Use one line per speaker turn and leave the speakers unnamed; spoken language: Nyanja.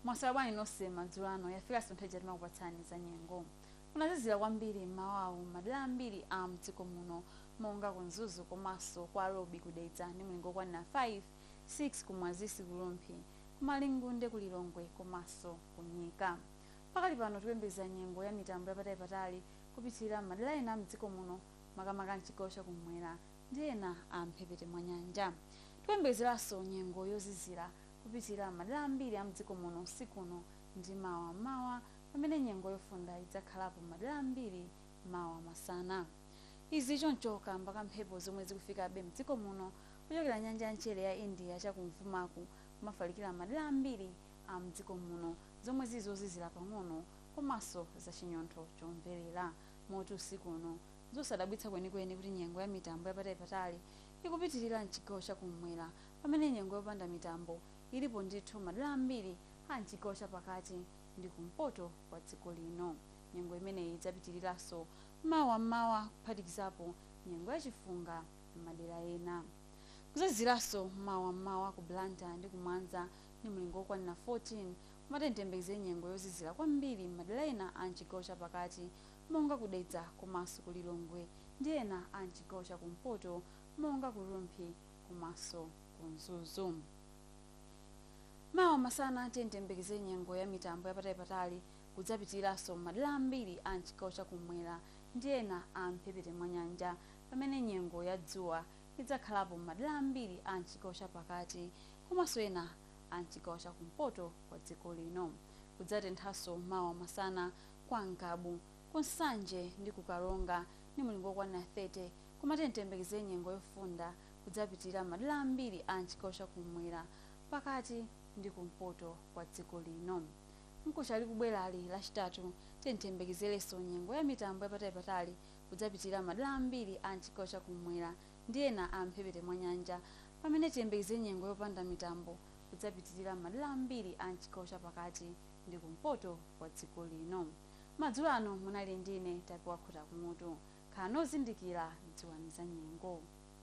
mwaswera bwanji nonse madzulo ano yafika nso nthawi ija timakupatsani za nyengo kunazizira kwambiri mmawawu madera ambiri a mdziko muno monga ku mzuzu komanso kwa Lobi ku Dedza ndi mlingo wokwanira 5 6 ku Mwazisi ku Rumphi ku Malingunde ku lilongwe komanso ku Nyika pakali pano tikuyembekeza nyengo ya mitambo yapatali patali kupitirira madera ena a mdziko muno makamaka m'chigawo cha kummwera ndi ena a m'mphepete mwa nyanja. Tikuyembekezeranso nyengo yozizira kupitirira m'madera ambiri a m'dziko muno usiku uno ndi mawa m'mawa pamene nyengo yofunda idzakhalapo m'madera ambiri mawa masana. Izi zili choncho kaamba ka mphepo zomwe zikufikabe m'dziko muno kuchokera nyanja ya mchere ya India cha kumvumaku kumafalikira m'madera ambiri a m'dziko muno zomwe zili zozizira pang'ono komanso zachinyontho chomverera. Moti usiku uno, n'zosadabwitsa kwenikweni kuti nyengo ya mitambo yapatalipatali ikupitirira m'chigawo cha kum'mwera pamene nyengo yopanda mitambo ilipo ndithu m'madera ambiri a m'chigawo cha pakati ndi kumpoto kwa dziko lino. Nyengo imeneyi idzapitiriranso mawa m'mawa kuphatikizapo nyengo ya chifunga m'madera ena. Kudzaziziranso mawa m'mawa ku Blantyre ndi ku Mwanza ndi mlingo wokwanira 14 Koma tiyeni tiyembekeze nyengo yozizira kwambiri m'madera ena a m'chigawo cha pakati monga ku Dedza komanso ku Lilongwe ndi ena a m'chigawo cha kumpoto monga ku Rumphi komanso ku Mzuzu. Mawa masana tiyeni tiyembekeze nyengo ya mitambo yapatali-patali kudzapitiliranso m'madera ambiri a m'chigawo cha kum'mwera ndi ena a m'mphepete mwa nyanja pamene nyengo ya dzuwa idzakhalapo m'madera ambiri a m'chigawo cha pakati komanso ena a mchigawo cha kumpoto kwa dziko lino. Kudzatenthanso mawa masana kwa Ngabu, ku Nsanje ndi ku Karonga ndi mulingo wokwanira 30 koma tiyeni tiyembekeze nyengo yofunda kudzapitilira m'madera ambiri a mchigawo cha kummwera, pakati ndi kumpoto kwa dziko lino. Mkucha likubwerali, Lachitatu, tiyeni tiyembekezerenso nyengo ya mitambo yapatali-patali kudzapitilira m'madera ambiri a mchigawo cha kummwera, ndi ena a m'mphepete mwa nyanja, pamene tiyembekeze nyengo yopanda mitambo kudzapitirira m'madera ambiri a m'chigawo cha pakati ndi kumpoto kwa dziko lino. Madzulo ano munali ndi ine Tapiwa Khutakumutu. Khalani ozindikira, dziwani za nyengo.